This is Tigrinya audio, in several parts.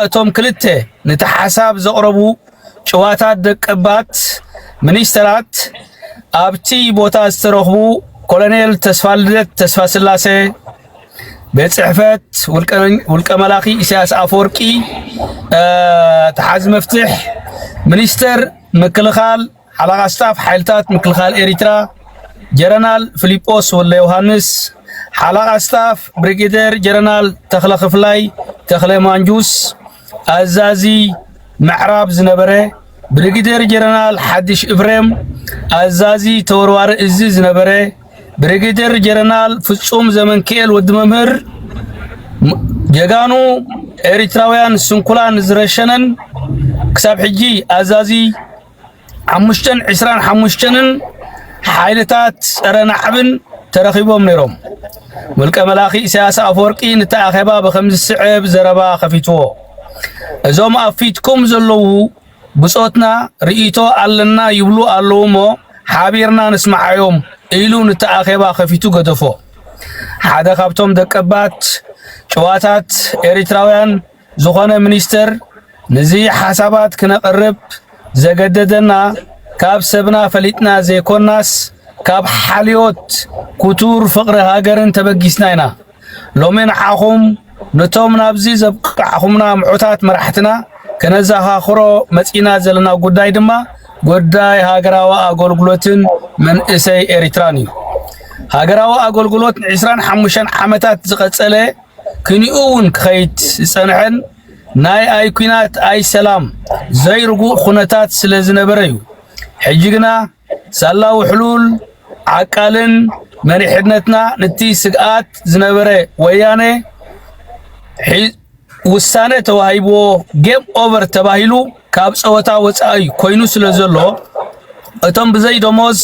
እቶም ክልተ ነቲ ሓሳብ ዘቕረቡ ጭዋታት ደቀባት ሚኒስተራት ኣብቲ ቦታ ዝተረኽቡ ኮሎኔል ተስፋልደት ተስፋስላሰ ቤት ጽሕፈት ውልቀ መላኺ ኢሳያስ ኣፈወርቂ ተሓዚ መፍትሕ ሚኒስተር ምክልኻል ሓላቓ ስታፍ ሓይልታት ምክልኻል ኤሪትራ ጀረናል ፍሊጶስ ወልደዮውሃንስ፣ ሓላቓ ስታፍ ብሪጌደር ጀረናል ተኽለ ክፍላይ፣ ተኽለ ማንጁስ፣ ኣዛዚ ምዕራብ ዝነበረ ብሪጌደር ጀረናል ሓድሽ እፍሬም፣ ኣዛዚ ተወርዋሪ እዚ ዝነበረ ብሪጌደር ጀረናል ፍጹም ዘመንክኤል ወዲ መምህር ጀጋኑ ኤሪትራውያን ስንኩላን ዝረሸነን ክሳብ ሕጂ ኣዛዚ ሓሙሽተን ዕስራን ሓሙሽተንን ሓይልታት ጸረ ናዕብን ተረኺቦም ነይሮም። ውልቀ መላኺ ኢሳያስ ኣፈወርቂ ነቲ ኣኼባ ብከም ዝስዕብ ዘረባ ከፊትዎ። እዞም ኣብ ፊትኩም ዘለዉ ብጾትና ርእይቶ ኣለና ይብሉ ኣለዉ እሞ ሓቢርና ንስምዓዮም ኢሉ ነቲ ኣኼባ ከፊቱ ገደፎ። ሓደ ካብቶም ደቀባት ጨዋታት ኤሪትራውያን ዝኾነ ሚኒስተር ንዚ ሓሳባት ክነቕርብ ዘገደደና ካብ ሰብና ፈሊጥና ዘይኮናስ ካብ ሓልዮት ኩቱር ፍቕሪ ሃገርን ተበጊስና ኢና። ሎሚ ንዓኹም ንቶም ናብዚ ዘብቃዕኹምና ምዑታት መራሕትና ከነዘኻኽሮ መጺእና ዘለና ጉዳይ ድማ ጉዳይ ሃገራዊ ኣገልግሎትን መንእሰይ ኤሪትራን እዩ። ሃገራዊ ኣገልግሎት ን25 ዓመታት ዝቐጸለ ክኒኡ ውን ክኸይድ ዝጸንሐን ናይ ኣይ ኩናት ኣይ ሰላም ዘይርጉእ ኩነታት ስለ ዝነበረ እዩ። ሕጂ ግና ሳላ ውሕሉል ዓቃልን መሪሕነትና ንቲ ስግኣት ዝነበረ ወያነ ውሳነ ተዋሂብዎ ጌም ኦቨር ተባሂሉ ካብ ጸወታ ወጻኢ ኮይኑ ስለ ዘሎ እቶም ብዘይ ደሞዝ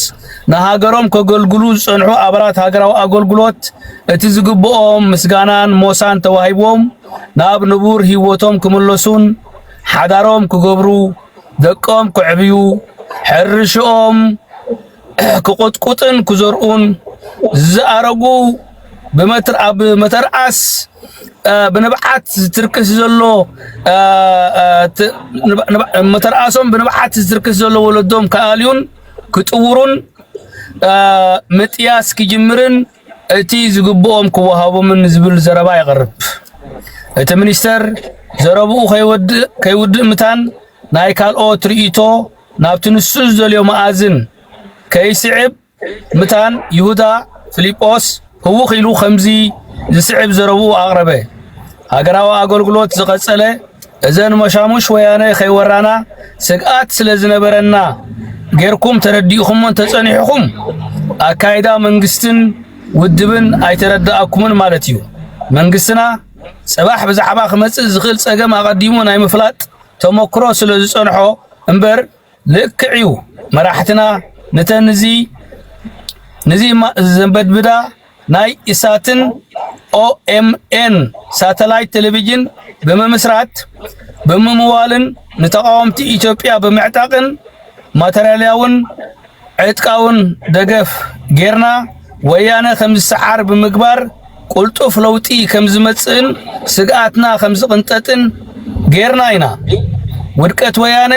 ንሃገሮም ከገልግሉ ዝጸንሑ ኣባላት ሃገራዊ ኣገልግሎት እቲ ዝግብኦም ምስጋናን ሞሳን ተዋሂቦም ናብ ንቡር ህይወቶም ክምለሱን ሓዳሮም ክገብሩ ደቆም ክዕብዩ ሕርሽኦም ክቆጥቁጥን ክዘርኡን ዝኣረጉ ኣብ መተርኣስ ብንብዓት ዝትርክስ ዘሎ መተርኣሶም ብንብዓት ዝትርክስ ዘሎ ወለዶም ክኣልዩን ክጥውሩን ምጥያስ ክጅምርን እቲ ዝግብኦም ክወሃቦምን ዝብል ዘረባ የቕርብ። እቲ ሚኒስተር ዘረብኡ ከይውድእ ምታን ናይ ካልኦት ርእይቶ ናብቲ ንሱ ዝደልዮ መኣዝን ከይስዕብ ምታን ይሁዳ ፊሊጶስ ህውኽ ኢሉ ከምዚ ዝስዕብ ዘረብኡ ኣቕረበ። ሃገራዊ ኣገልግሎት ዝቐጸለ እዘን መሻሙሽ ወያነ ከይወራና ስግኣት ስለ ዝነበረና ጌርኩም ተረዲእኹም እንተጸኒሕኹም ኣካይዳ መንግስትን ውድብን ኣይተረዳእኩምን ማለት እዩ። መንግስትና ጽባሕ ብዛዕባ ክመጽእ ዝኽእል ጸገም ኣቐዲሙ ናይ ምፍላጥ ተመክሮ ስለ ዝጸንሖ እምበር ልክዕ እዩ መራሕትና ንተን እዚ ንዚ ዘንበድብዳ ናይ ኢሳትን ኦኤምኤን ሳተላይት ቴሌቪዥን ብምምስራት ብምምዋልን ንተቃወምቲ ኢትዮጵያ ብምዕጣቅን ማተርያልያውን ዕጥቃውን ደገፍ ጌርና ወያነ ከምዝሰዓር ብምግባር ቁልጡፍ ለውጢ ከምዝመጽእን ስግኣትና ከምዝቕንጠጥን ጌርና ኢና። ውድቀት ወያነ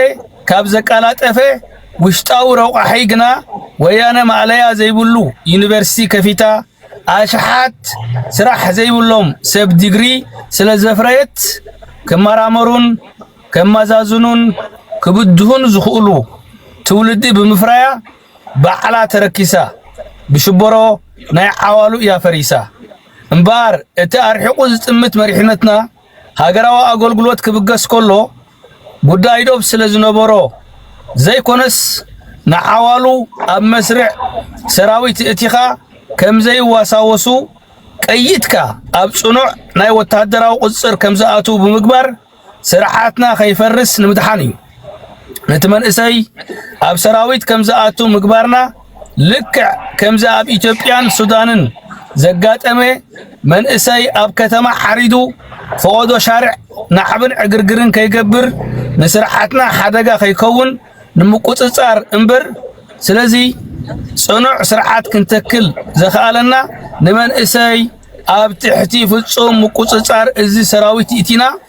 ካብ ዘቃላጠፈ ውሽጣዊ ረቋሒ ግና ወያነ ማእለያ ዘይብሉ ዩኒቨርሲቲ ከፊታ ኣሽሓት ስራሕ ዘይብሎም ሰብ ዲግሪ ስለ ዘፍረየት ክመራመሩን ከመዛዝኑን ክብድሁን ዝኽእሉ ትውልዲ ብምፍራያ ባዕላ ተረኪሳ ብሽቦሮ ናይ ዓዋሉ እያ ፈሪሳ እምበኣር እቲ ኣርሒቑ ዝጥምት መሪሕነትና ሃገራዊ ኣገልግሎት ክብገስ ከሎ ጉዳይ ዶብ ስለ ዝነበሮ ዘይኮነስ ንዓዋሉ ኣብ መስርዕ ሰራዊት እእቲኻ ከም ዘይዋሳወሱ ቀይትካ ኣብ ጽኑዕ ናይ ወተሃደራዊ ቁጽር ከም ዝኣትው ብምግባር ስርዓትና ከይፈርስ ንምድሓን እዩ። ነቲ መንእሰይ ኣብ ሰራዊት ከም ዝኣቱ ምግባርና ልክዕ ከምዚ ኣብ ኢትዮጵያን ሱዳንን ዘጋጠመ መንእሰይ ኣብ ከተማ ሓሪዱ ፈቐዶ ሻርዕ ናዕብን ዕግርግርን ከይገብር ንስርዓትና ሓደጋ ከይከውን ንምቁፅፃር እምበር ስለዚ ፅኑዕ ስርዓት ክንተክል ዘኽኣለና ንመንእሰይ ኣብ ትሕቲ ፍፁም ምቁፅፃር እዚ ሰራዊት ይእቲና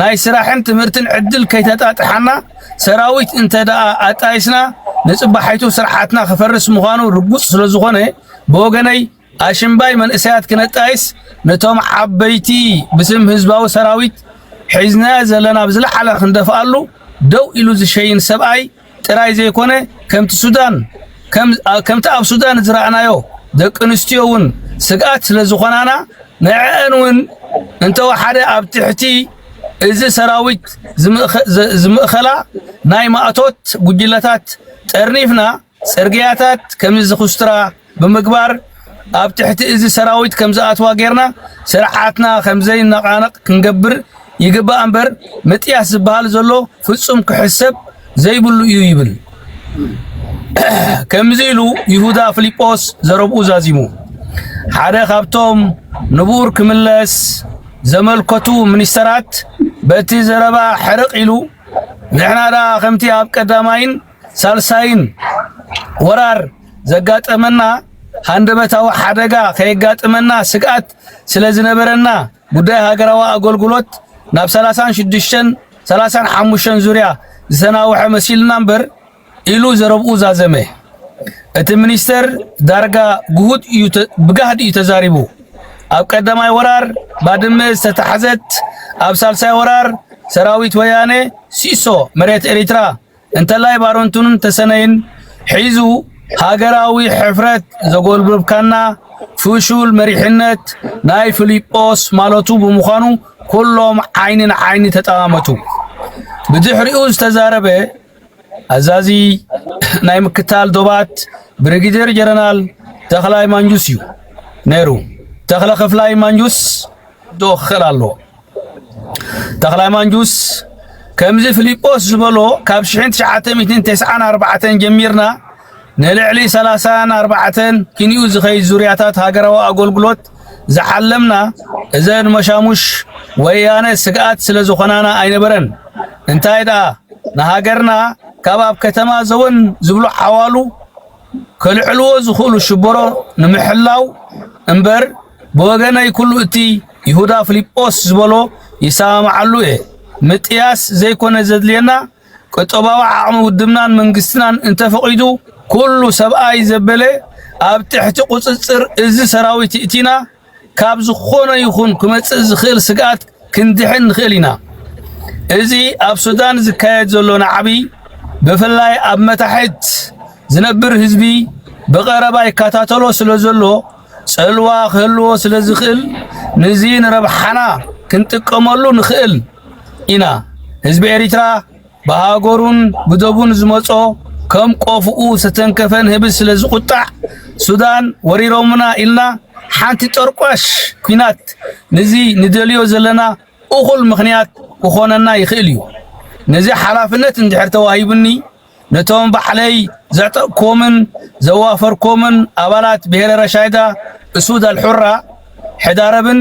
ናይ ስራሕን ትምህርትን ዕድል ከይተጣጥሓና ሰራዊት እንተ ደኣ ኣጣይስና ንጽባሒቱ ስርሓትና ክፈርስ ምዃኑ ርጉጽ ስለ ዝኾነ ብወገነይ ኣሽምባይ መንእሰያት ክነጣይስ ነቶም ዓበይቲ ብስም ህዝባዊ ሰራዊት ሒዝናዮ ዘለና ብዝለዓለ ክንደፍኣሉ ደው ኢሉ ዝሸይን ሰብኣይ ጥራይ ዘይኮነ ከምቲ ሱዳን ከምቲ ኣብ ሱዳን ዝረኣናዮ ደቂ ኣንስትዮ እውን ስግኣት ስለ ዝኾናና ንዕዐን እውን እንተወሓደ ኣብ ትሕቲ እዚ ሰራዊት ዝምእኸላ ናይ ማእቶት ጉጅለታት ጠርኒፍና ጽርግያታት ከምዝኹስትራ ብምግባር ኣብ ትሕቲ እዚ ሰራዊት ከም ዝኣትዋ ጌርና ስርዓትና ከም ዘይነቓነቕ ክንገብር ይግባእ እምበር ምጥያስ ዝበሃል ዘሎ ፍጹም ክሕሰብ ዘይብሉ እዩ ይብል። ከምዚ ኢሉ ይሁዳ ፊልጶስ ዘረብኡ ዛዚሙ። ሓደ ካብቶም ንቡር ክምለስ ዘመልከቱ ሚኒስተራት በቲ ዘረባ ሕርቕ ኢሉ ንሕና ደኣ ከምቲ ኣብ ቀዳማይን ሳልሳይን ወራር ዘጋጠመና ሃንደበታዊ ሓደጋ ከየጋጥመና ስግኣት ስለ ዝነበረና ጉዳይ ሃገራዊ ኣገልግሎት ናብ 36ን 35ን ዙርያ ዝተናውሐ መሲልና እምበር ኢሉ ዘረብኡ ዛዘመ። እቲ ሚኒስተር ዳርጋ ግሁድ እዩ ብጋህዲ እዩ ተዛሪቡ። ኣብ ቀዳማይ ወራር ባድመ ዝተታሕዘት ኣብ ሳልሳይ ወራር ሰራዊት ወያነ ሲሶ መሬት ኤሪትራ እንተላይ ባረንቱን ተሰነይን ሒዙ ሃገራዊ ሕፍረት ዘጎልብብካና ፍሹል መሪሕነት ናይ ፍሊጶስ ማለቱ ብምዃኑ ኩሎም ዓይኒ ንዓይኒ ተጠማመቱ። ብድሕሪኡ ዝተዛረበ ኣዛዚ ናይ ምክታል ዶባት ብሪጌደር ጀነራል ተኽላይ ማንጁስ እዩ ነይሩ። ተኽለ ክፍላይ ማንጁስ ዶ ክኽእል ኣለዎ። ተኽላይ ማንጁስ ከምዚ ፍሊጶስ ዝበሎ ካብ 1994 ጀሚርና ንልዕሊ 30ን 4 ኪንኡ ዝኸይ ዙርያታት ሃገራዊ ኣገልግሎት ዝሓለምና እዘን መሻሙሽ ወያነ ስግኣት ስለ ዝኾናና ኣይነበረን። እንታይ ደኣ ንሃገርና ካብ ኣብ ከተማ ዘወን ዝብሉ ዓዋሉ ከልዕልዎ ዝኽእሉ ሽበሮ ንምሕላው እምበር ብወገነይ ኩሉ እቲ ይሁዳ ፍሊጶስ ዝበሎ ይሰማማዓሉ እየ። ምጥያስ ዘይኮነ ዘድልየና ቁጠባዊ ዓቕሚ ውድብናን መንግስትናን እንተፈቒዱ ኩሉ ሰብኣይ ዘበለ ኣብ ትሕቲ ቁፅፅር እዚ ሰራዊት እቲና ካብ ዝኾነ ይኹን ክመፅእ ዝኽእል ስግኣት ክንድሕን ንኽእል ኢና። እዚ ኣብ ሱዳን ዝካየድ ዘሎ ናዕቢ ብፍላይ ኣብ መታሕት ዝነብር ህዝቢ ብቐረባ ይከታተሎ ስለ ዘሎ ጽልዋ ክህልዎ ስለ ዝኽእል ንዚ ንረብሓና ክንጥቀመሉ ንኽእል ኢና። ህዝቢ ኤሪትራ ብሃገሩን ብዶቡን ዝመጾ ከም ቆፍኡ ዝተተንከፈን ህብስ ስለ ዝቁጣዕ ሱዳን ወሪሮምና ኢልና ሓንቲ ጠርቋሽ ኩናት ንዚ ንደልዮ ዘለና እኹል ምኽንያት ክኾነና ይኽእል እዩ። ነዚ ሓላፍነት እንድሕር ተዋሂቡኒ ነቶም ባዕለይ ዘዕጠቕኩዎምን ዘዋፈርኩዎምን ኣባላት ብሄረ ረሻይዳ እሱድ ኣልሑራ ሕዳረብን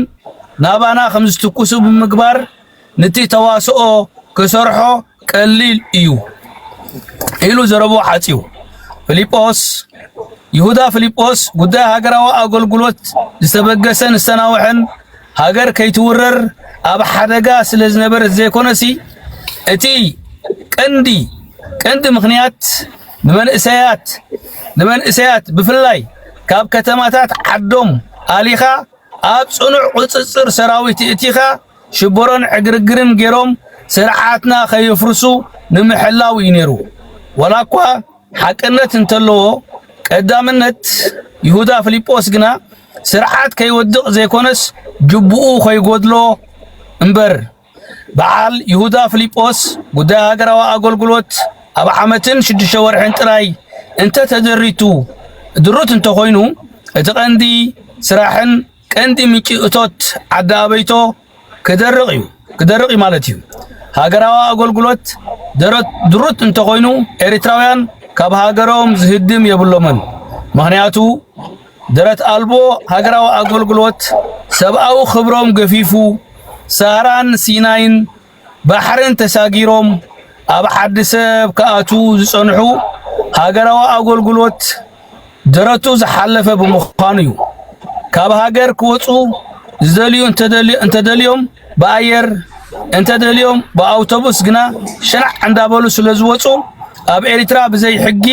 ናባና ከም ዝትኩሱ ብምግባር ንቲ ተዋስኦ ክሰርሖ ቀሊል እዩ ኢሉ ዘረብኡ ሓጺው ፍሊጶስ ይሁዳ ፍሊጶስ ጉዳይ ሃገራዊ ኣገልግሎት ዝተበገሰን ዝተናውሐን ሃገር ከይትውረር ኣብ ሓደጋ ስለ ዝነበረት ዘይኮነሲ እቲ ቀንዲ ቀንዲ ምኽንያት ንመንእሰያት ንመንእሰያት ብፍላይ ካብ ከተማታት ዓዶም ኣሊኻ ኣብ ጽኑዕ ቁጽጽር ሰራዊት እእቲኻ ሽቦሮን ዕግርግርን ገይሮም ስርዓትና ከየፍርሱ ንምሕላው እዩ ነይሩ። ወላ እኳ ሓቅነት እንተለዎ ቀዳምነት ይሁዳ ፊልጶስ ግና ስርዓት ከይወድቕ ዘይኮነስ ጅቡኡ ከይጎድሎ እምበር በዓል ይሁዳ ፍሊጶስ ጉዳይ ሃገራዊ ኣገልግሎት ኣብ ዓመትን ሽዱሽተ ወርሕን ጥራይ እንተ ተደሪቱ ድሩት እንተኾይኑ እቲ ቀንዲ ስራሕን ቀንዲ ምንጪ እቶት ዓዲ ኣበይቶ ክደርቕ እዩ ክደርቕ እዩ ማለት እዩ። ሃገራዊ ኣገልግሎት ደረት ድሩት እንተኾይኑ ኤሪትራውያን ካብ ሃገሮም ዝህድም የብሎምን። ምክንያቱ ደረት ኣልቦ ሃገራዊ ኣገልግሎት ሰብኣዊ ክብሮም ገፊፉ ሳህራን ሲናይን ባሕርን ተሳጊሮም ኣብ ሓዲ ሰብ ክኣትዉ ዝጸንሑ ሃገራዊ ኣገልግሎት ደረቱ ዝሓለፈ ብምዃኑ እዩ። ካብ ሃገር ክወፁ ዝደልዩ እንተደልዮም ብኣየር እንተደልዮም ብኣውቶቡስ ግና ሸናዕ እንዳበሉ ስለ ዝወፁ ኣብ ኤርትራ ብዘይ ሕጊ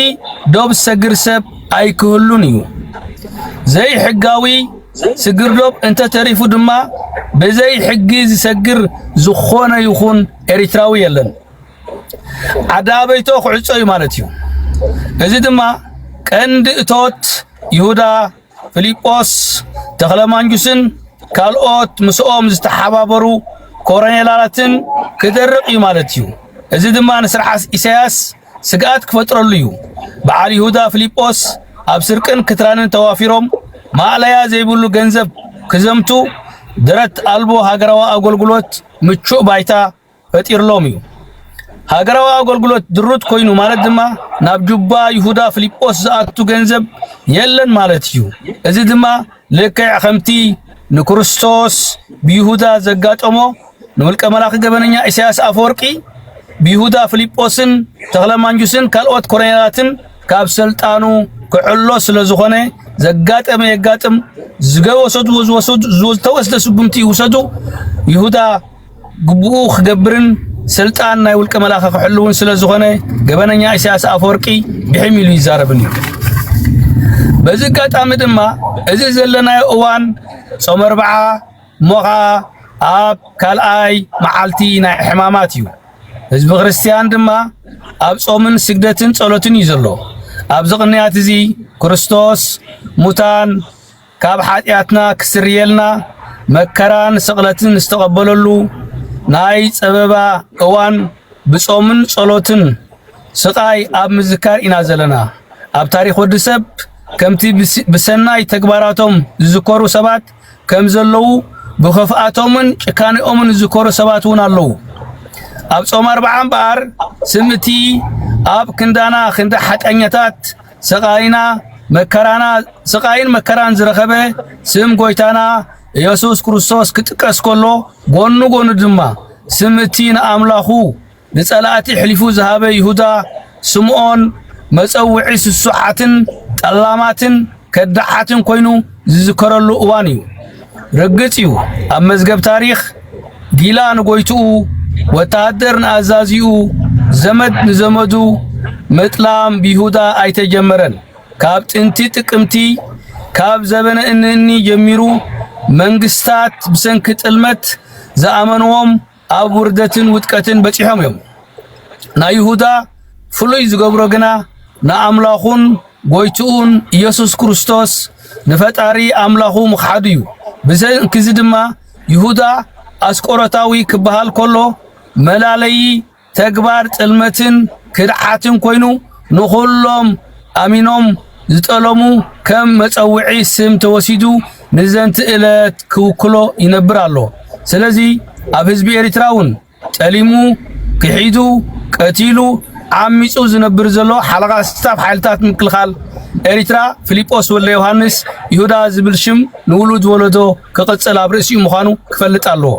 ዶብ ዝሰግር ሰብ ኣይክህሉን እዩ። ዘይሕጋዊ ስግርዶብ እንተተሪፉ ድማ ብዘይ ሕጊ ዝሰግር ዝኾነ ይኹን ኤሪትራዊ የለን። ኣዳበይቶ ክዕጾ እዩ ማለት እዩ። እዚ ድማ ቀንዲ እቶት ይሁዳ ፊሊጶስ ተኽለማንጁስን ካልኦት ምስኦም ዝተሓባበሩ ኮረኔላትን ክደርቕ እዩ ማለት እዩ። እዚ ድማ ንስርዓት ኢሳያስ ስግኣት ክፈጥረሉ እዩ። በዓል ይሁዳ ፍሊጶስ ኣብ ስርቅን ክትራንን ተዋፊሮም ማእለያ ዘይብሉ ገንዘብ ክዘምቱ ደረት ኣልቦ ሃገራዊ ኣገልግሎት ምቹእ ባይታ ፈጢርሎም እዩ። ሃገራዊ ኣገልግሎት ድሩት ኮይኑ ማለት ድማ ናብ ጁባ ይሁዳ ፍሊጶስ ዝኣቱ ገንዘብ የለን ማለት እዩ። እዚ ድማ ልክዕ ከምቲ ንክርስቶስ ብይሁዳ ዘጋጠሞ ንውልቀ መላኺ ገበነኛ ኢሳያስ ኣፈወርቂ ብይሁዳ ፍሊጶስን ተኽለማንጁስን ካልኦት ኮሎኔላትን ካብ ስልጣኑ ክዕሎ ስለ ዝኾነ ዘጋጠመ የጋጥም ዝገወሰድዎ ዝወሰዱ ዝተወስደ ስጉምቲ ይውሰዱ ይሁዳ ግቡኡ ክገብርን ስልጣን ናይ ውልቀ መላኺ ክሕልውን ስለ ዝኾነ ገበነኛ ኢሳያስ ኣፈወርቂ ብሒም ኢሉ ይዛረብን እዩ። በዚ ኣጋጣሚ ድማ እዚ ዘለናዮ እዋን ጾመ ኣርብዓ እሞ ኸኣ ኣብ ካልኣይ መዓልቲ ናይ ሕማማት እዩ። ህዝቢ ክርስቲያን ድማ ኣብ ጾምን ስግደትን ጸሎትን እዩ ዘሎ። ኣብዚ ቅንያት እዚ ክርስቶስ ሙታን ካብ ሓጢኣትና ክስርየልና መከራን ስቕለትን ዝተቐበለሉ ናይ ጸበባ እዋን ብጾምን ጸሎትን ስቓይ ኣብ ምዝካር ኢና ዘለና። ኣብ ታሪኽ ወዲ ሰብ ከምቲ ብሰናይ ተግባራቶም ዝዝከሩ ሰባት ከም ዘለዉ ብኽፍኣቶምን ጭካኔኦምን ዝዝከሩ ሰባት እውን ኣለዉ። ኣብ ጾም ኣርብዓ እምበኣር ስም እቲ ኣብ ክንዳና ክንዲ ሓቀኛታት ስቃይና መከራና ስቃይን መከራን ዝረኸበ ስም ጎይታና ኢየሱስ ክርስቶስ ክጥቀስ ከሎ ጎኑ ጎኑ ድማ ስም እቲ ንኣምላኹ ንጸላእቲ ሕሊፉ ዝሃበ ይሁዳ፣ ስምዖን መጸውዒ ስሱዓትን ጠላማትን ከዳሓትን ኮይኑ ዝዝከረሉ እዋን እዩ። ርግጽ እዩ ኣብ መዝገብ ታሪኽ ጊላ ንጎይትኡ፣ ወተሃደር ንኣዛዚኡ፣ ዘመድ ንዘመዱ ምጥላም ብይሁዳ ኣይተጀመረን። ካብ ጥንቲ ጥቅምቲ ካብ ዘበነ እንእኒ ጀሚሩ መንግስታት ብሰንኪ ጥልመት ዝኣመንዎም ኣብ ውርደትን ውድቀትን በጺሖም እዮም። ናይ ይሁዳ ፍሉይ ዝገብሮ ግና ንኣምላኹን ጎይትኡን ኢየሱስ ክርስቶስ ንፈጣሪ ኣምላኹ ምኽሓዱ እዩ። ብሰንኪዚ ድማ ይሁዳ ኣስቆሮታዊ ክበሃል ከሎ መላለዪ ተግባር ጥልመትን ክድዓትን ኮይኑ ንኹሎም ኣሚኖም ዝጠለሙ ከም መጸውዒ ስም ተወሲዱ ንዘንቲ እለት ክውክሎ ይነብር ኣሎ። ስለዚ ኣብ ህዝቢ ኤሪትራ ውን ጠሊሙ፣ ክሒዱ፣ ቀቲሉ፣ ዓሚጹ ዝነብር ዘሎ ሓለቓ ስታፍ ሓይልታት ምክልኻል ኤሪትራ ፍሊጶስ ወልደዮሃንስ፣ ይሁዳ፣ ዝብል ሽም ንውሉድ ወለዶ ክቕጽል ኣብ ርእሲኡ ምዃኑ ክፈልጥ ኣለዎ።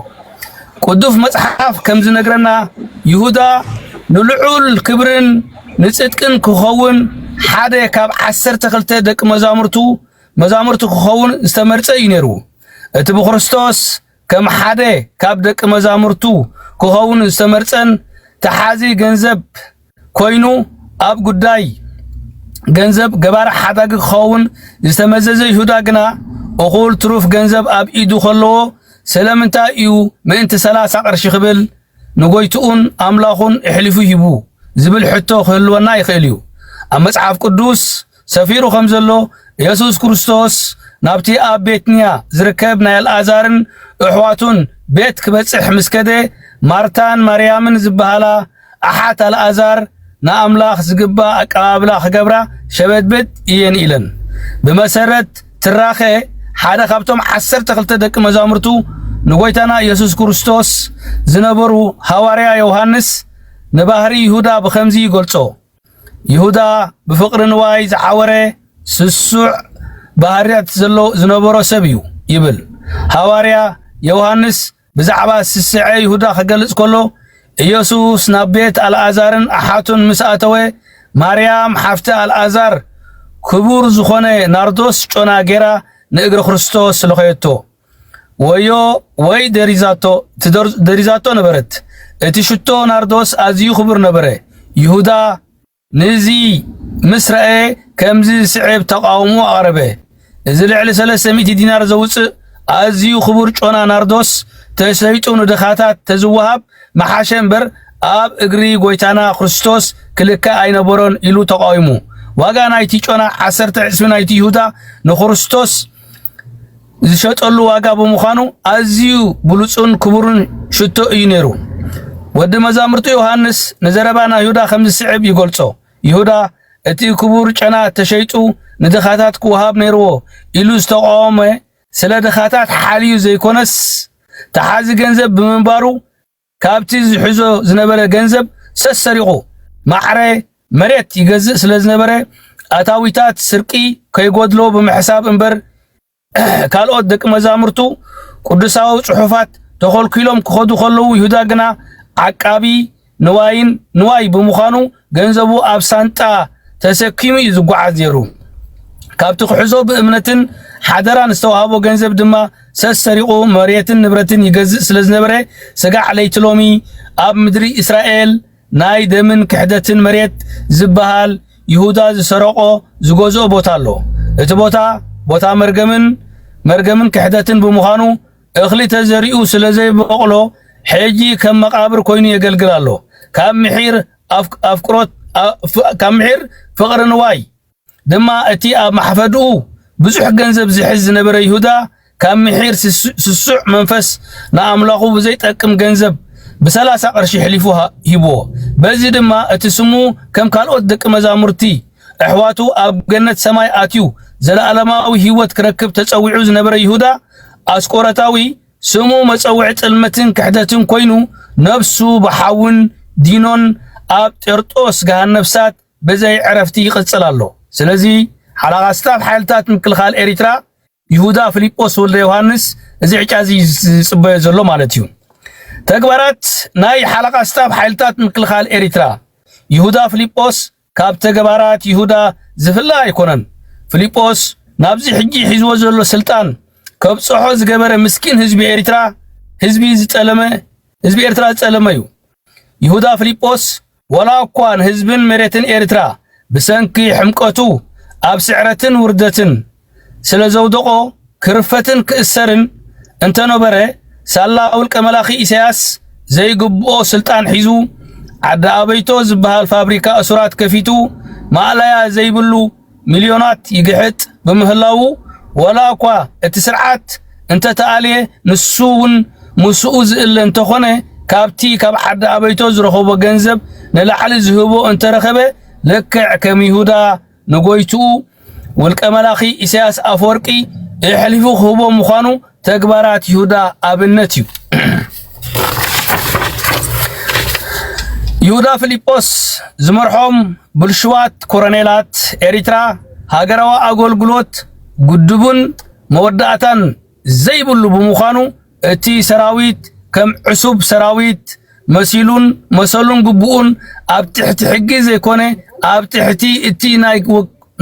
ቅዱስ መጽሓፍ ከም ዝነግረና ይሁዳ ንልዑል ክብርን ንጽድቅን ክኸውን ሓደ ካብ ዓሰርተ ክልተ ደቂ መዛሙርቱ መዛሙርቱ ክኸውን ዝተመርጸ እዩ ነይሩ። እቲ ብክርስቶስ ከም ሓደ ካብ ደቂ መዛሙርቱ ክኸውን ዝተመርጸን ተሓዚ ገንዘብ ኮይኑ ኣብ ጉዳይ ገንዘብ ገባር ሓዳጊ ክኸውን ዝተመዘዘ ይሁዳ ግና እኹል ትሩፍ ገንዘብ ኣብ ኢዱ ከለዎ ስለምንታይ እዩ ምእንቲ ሰላሳ ቅርሺ ክብል ንጎይትኡን ኣምላኹን እሕሊፉ ሂቡ ዝብል ሕቶ ክህልወና ይኽእል እዩ። ኣብ መጽሓፍ ቅዱስ ሰፊሩ ከም ዘሎ የሱስ ክርስቶስ ናብቲ ኣብ ቤትንያ ዝርከብ ናይ ኣልኣዛርን እሕዋቱን ቤት ክበጽሕ ምስ ከደ ማርታን ማርያምን ዝበሃላ ኣሓት ኣልኣዛር ንኣምላኽ ዝግባእ ኣቀባብላ ክገብራ ሸበድበድ እየን ኢለን። ብመሰረት ትራኸ ሓደ ካብቶም ዓሰርተ ክልተ ደቂ መዛሙርቱ ንጎይታና ኢየሱስ ክርስቶስ ዝነበሩ ሃዋርያ ዮሐንስ ንባህሪ ይሁዳ ብኸምዚ ይገልጾ። ይሁዳ ብፍቕሪ ንዋይ ዝዓወረ ስሱዕ ባህርያት ዘሎ ዝነበሮ ሰብ እዩ ይብል ሃዋርያ ዮሃንስ ብዛዕባ ስስዐ ይሁዳ ክገልጽ ከሎ ኢየሱስ ናብ ቤት ኣልኣዛርን ኣሓቱን ምስ ኣተወ ማርያም ሓፍቲ ኣልኣዛር ክቡር ዝኾነ ናርዶስ ጮና ጌራ ንእግሪ ክርስቶስ ልኸየቶ ወዮ ወይ ደሪዛቶ ደሪዛቶ ነበረት። እቲ ሽቶ ናርዶስ ኣዝዩ ክቡር ነበረ። ይሁዳ ነዚ ምስ ረኣየ ከምዚ ዝስዕብ ተቓውሞ ኣቕረበ፣ እዚ ልዕሊ ሰለስተ ሚእቲ ዲናር ዘውጽእ ኣዝዩ ክቡር ጮና ናርዶስ ተሰይጡ ንድኻታት ተዝወሃብ መሓሸ እምበር ኣብ እግሪ ጎይታና ክርስቶስ ክልከ ኣይነበሮን ኢሉ ተቓዊሙ። ዋጋ ናይቲ ጮና ዓሰርተ ዕስቢ ናይቲ ይሁዳ ንክርስቶስ ዝሸጠሉ ዋጋ ብምዃኑ ኣዝዩ ብሉጹን ክቡርን ሽቶ እዩ ነይሩ። ወዲ መዛሙርቱ ዮሃንስ ንዘረባ ናይ ይሁዳ ከም ዝስዕብ ይገልጾ፣ ይሁዳ እቲ ክቡር ጨና ተሸይጡ ንድኻታት ክወሃብ ነይርዎ ኢሉ ዝተቓወመ ስለ ድኻታት ሓልዩ ዘይኮነስ ተሓዚ ገንዘብ ብምንባሩ ካብቲ ዝሕዞ ዝነበረ ገንዘብ ሰሰሪቑ ማዕረ መሬት ይገዝእ ስለዝነበረ ኣታዊታት ስርቂ ከይጎድሎ ብምሕሳብ እምበር ካልኦት ደቂ መዛሙርቱ ቅዱሳዊ ጽሑፋት ተኾልኲሎም ክኸዱ ከለዉ ይሁዳ ግና ዓቃቢ ንዋይን ንዋይ ብምዃኑ ገንዘቡ ኣብ ሳንጣ ተሰኪሙ እዩ ዝጓዓዝ ነይሩ። ካብቲ ክሕዞ ብእምነትን ሓደራን ዝተዋህቦ ገንዘብ ድማ ሰሰሪቑ መሬትን ንብረትን ይገዝእ ስለ ዝነበረ ስጋዕ ለይቲ ሎሚ ኣብ ምድሪ እስራኤል ናይ ደምን ክሕደትን መሬት ዝበሃል ይሁዳ ዝሰረቆ ዝገዝኦ ቦታ ኣሎ። እቲ ቦታ ቦታ መርገምን መርገምን ክሕደትን ብምዃኑ እኽሊ ተዘሪኡ ስለ ዘይበቕሎ ሕጂ ከም መቓብር ኮይኑ የገልግል ኣሎ። ካብ ምሒር ኣፍቅሮት ካብ ምሒር ፍቕሪ ንዋይ ድማ እቲ ኣብ ማሕፈድኡ ብዙሕ ገንዘብ ዝሕዝ ዝነበረ ይሁዳ ካብ ምሒር ስሱዕ መንፈስ ንኣምላኹ ብዘይጠቅም ገንዘብ ብሰላሳ ቅርሺ ሕሊፉ ሂብዎ። በዚ ድማ እቲ ስሙ ከም ካልኦት ደቂ መዛሙርቲ ኣሕዋቱ ኣብ ገነት ሰማይ ኣትዩ ዘለኣለማዊ ህይወት ክረክብ ተጸዊዑ ዝነበረ ይሁዳ ኣስቆረታዊ ስሙ መጸውዒ ጥልመትን ክሕደትን ኮይኑ ነፍሱ ብሓውን ዲኖን ኣብ ጤርጦስ ገሃነብሳት ብዘይ ዕረፍቲ ይቕጽል ኣሎ። ስለዚ ሓላቓ ስታፍ ሓይልታት ምክልኻል ኤሪትራ ይሁዳ ፍሊጶስ ወልደ ዮሃንስ እዚ ዕጫ እዚ ዝጽበዮ ዘሎ ማለት እዩ። ተግባራት ናይ ሓላቓ ስታፍ ሓይልታት ምክልኻል ኤሪትራ ይሁዳ ፍሊጶስ ካብ ተግባራት ይሁዳ ዝፍለ ኣይኮነን። ፍሊጶስ ናብዚ ሕጂ ሒዝዎ ዘሎ ስልጣን ከብጽሖ ዝገበረ ምስኪን ህዝቢ ኤሪትራ ህዝቢ ዝጸለመ ህዝቢ ኤርትራ ዝጸለመ እዩ። ይሁዳ ፍሊጶስ ወላ እኳ ንህዝብን መሬትን ኤርትራ ብሰንኪ ሕምቀቱ ኣብ ስዕረትን ውርደትን ስለ ዘውደቖ ክርፈትን ክእሰርን እንተ ነበረ፣ ሳላ ውልቀ መላኺ ኢሳያስ ዘይግብኦ ስልጣን ሒዙ፣ ዓዲ ኣበይቶ ዝበሃል ፋብሪካ እሱራት ከፊቱ ማእለያ ዘይብሉ ሚልዮናት ይግሕጥ ብምህላዉ፣ ወላ እኳ እቲ ስርዓት እንተ ተኣልየ ንሱ እውን ምስኡ ዝእለ እንተ ኾነ ካብቲ ካብ ዓዲ ኣበይቶ ዝረኸቦ ገንዘብ ንላዕሊ ዝህቦ እንተ ረኸበ ልክዕ ከም ይሁዳ ንጎይትኡ ውልቀ መላኺ ኢሳያስ ኣፈወርቂ የሕሊፉ ክህቦ ምዃኑ ተግባራት ይሁዳ ኣብነት እዩ። ይሁዳ ፊሊጶስ ዝመርሖም ብልሽዋት ኮረኔላት ኤሪትራ ሃገራዊ ኣገልግሎት ጉድቡን መወዳእታን ዘይብሉ ብምዃኑ እቲ ሰራዊት ከም ዕሱብ ሰራዊት መሲሉን መሰሉን ግቡኡን ኣብ ትሕቲ ሕጊ ዘይኮነ ኣብ ትሕቲ እቲ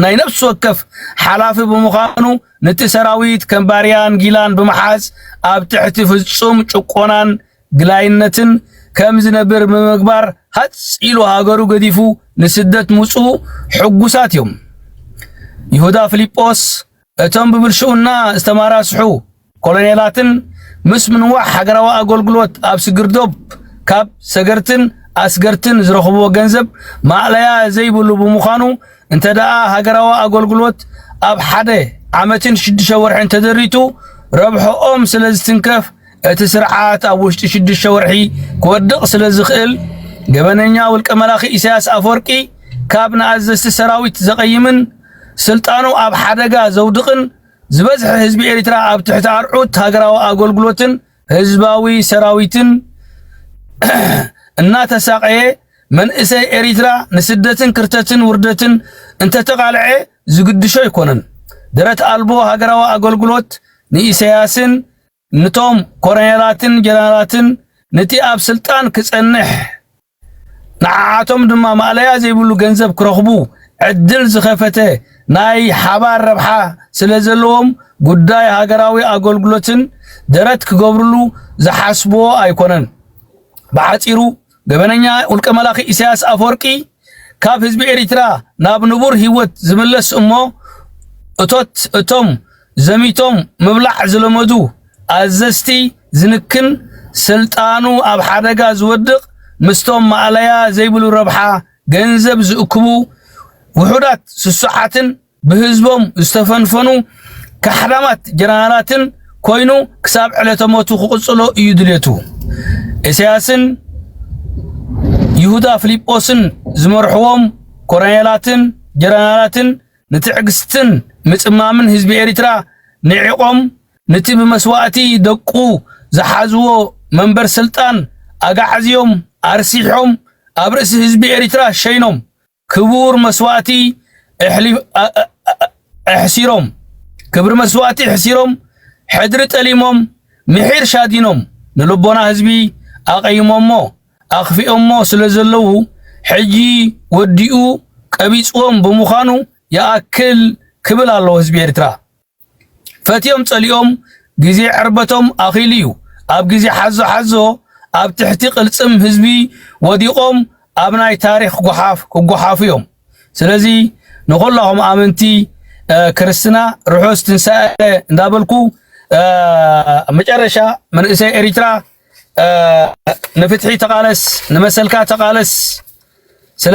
ናይ ነፍሲ ወከፍ ሓላፊ ብምዃኑ ነቲ ሰራዊት ከም ባርያን ጊላን ብምሓዝ ኣብ ትሕቲ ፍጹም ጭቆናን ግላይነትን ከም ዝነብር ብምግባር ሃጽ ኢሉ ሃገሩ ገዲፉ ንስደት ምጹ ሕጉሳት እዮም። ይሁዳ ፊልጶስ እቶም ብብልሽውና ዝተማራስሑ ኮሎኔላትን ምስ ምንዋሕ ሃገራዊ ኣገልግሎት ኣብ ስግርዶብ ካብ ሰገርትን ኣስገርትን ዝረኽብዎ ገንዘብ ማእለያ ዘይብሉ ብምዃኑ እንተደኣ ሃገራዊ ኣገልግሎት ኣብ ሓደ ዓመትን ሽዱሽተ ወርሕን ተደሪቱ ረብሕኦም ስለ ዝትንከፍ እቲ ስርዓት ኣብ ውሽጢ ሽዱሽተ ወርሒ ክወድቕ ስለ ዝኽእል ገበነኛ ውልቀ መላኺ ኢሳያስ ኣፈወርቂ ካብ ንኣዘዝቲ ሰራዊት ዘቐይምን ስልጣኑ ኣብ ሓደጋ ዘውድቕን ዝበዝሐ ህዝቢ ኤርትራ ኣብ ትሕቲ ኣርዑት ሃገራዊ ኣገልግሎትን ህዝባዊ ሰራዊትን እናተሳቐየ መንእሰይ ኤርትራ ንስደትን ክርተትን ውርደትን እንተተቓልዐ ዝግድሾ ኣይኮነን። ደረት ኣልቦ ሃገራዊ ኣገልግሎት ንኢሳያስን ንቶም ኮረኔላትን ጀነራላትን ንቲ ኣብ ስልጣን ክጸንሕ ንዓዓቶም ድማ ማእለያ ዘይብሉ ገንዘብ ክረኽቡ ዕድል ዝኸፈተ ናይ ሓባር ረብሓ ስለ ዘለዎም ጉዳይ ሃገራዊ ኣገልግሎትን ደረት ክገብርሉ ዝሓስቡዎ ኣይኮነን። ብሓጺሩ ገበነኛ ውልቀ መላኺ ኢሳያስ ኣፈወርቂ ካብ ህዝቢ ኤሪትራ ናብ ንቡር ሂወት ዝምለስ እሞ እቶት እቶም ዘሚቶም ምብላዕ ዝለመዱ ኣዘዝቲ ዝንክን ስልጣኑ ኣብ ሓደጋ ዝወድቕ ምስቶም ማእለያ ዘይብሉ ረብሓ ገንዘብ ዝእክቡ ውሑዳት ስሱዓትን ብህዝቦም ዝተፈንፈኑ ካሕዳማት ጀነራላትን ኮይኑ ክሳብ ዕለተ ሞቱ ክቕጽሎ እዩ ድሌቱ። ኢሳያስን ይሁዳ ፊልጶስን ዝመርሕዎም ኮረኔላትን ጀነራላትን ንትዕግስትን ምጽማምን ህዝቢ ኤርትራ ንዒቖም ንቲ ብመስዋእቲ ደቁ ዝሓዝዎ መንበር ስልጣን ኣጋዕዝዮም ኣርሲሖም ኣብ ርእሲ ህዝቢ ኤርትራ ሸይኖም ክቡር መስዋእቲ እሕሊ- እ- እ- እ- እሕሲሮም ክብሪ መስዋእቲ እሕሲሮም ሕድሪ ጠሊሞም ምሒር ሻዲኖም ንልቦና ህዝቢ ኣቐይሞሞ ኣኽፊኦሞ ስለ ዘለዉ ሕጂ ወዲኡ ቀቢጽዎም ብምዃኑ ይኣክል ክብል ኣለዎ ህዝቢ ኤርትራ። ፈትዮም ጸሊኦም ግዜ ዕርበቶም ኣኺሉ እዩ ኣብ ግዜ ሓዞ ሓዞ ኣብ ትሕቲ ቅልጽም ህዝቢ ወዲቖም ኣብ ናይ ታሪኽ ጎሓፍ ክጎሓፉ እዮም ስለዚ ንኹላኹም ኣመንቲ ክርስትና ርሑስ ትንሳኤ እንዳበልኩ መጨረሻ መንእሰይ ኤሪትራ ንፍትሒ ተቃለስ ንመሰልካ ተቃለስ ስለ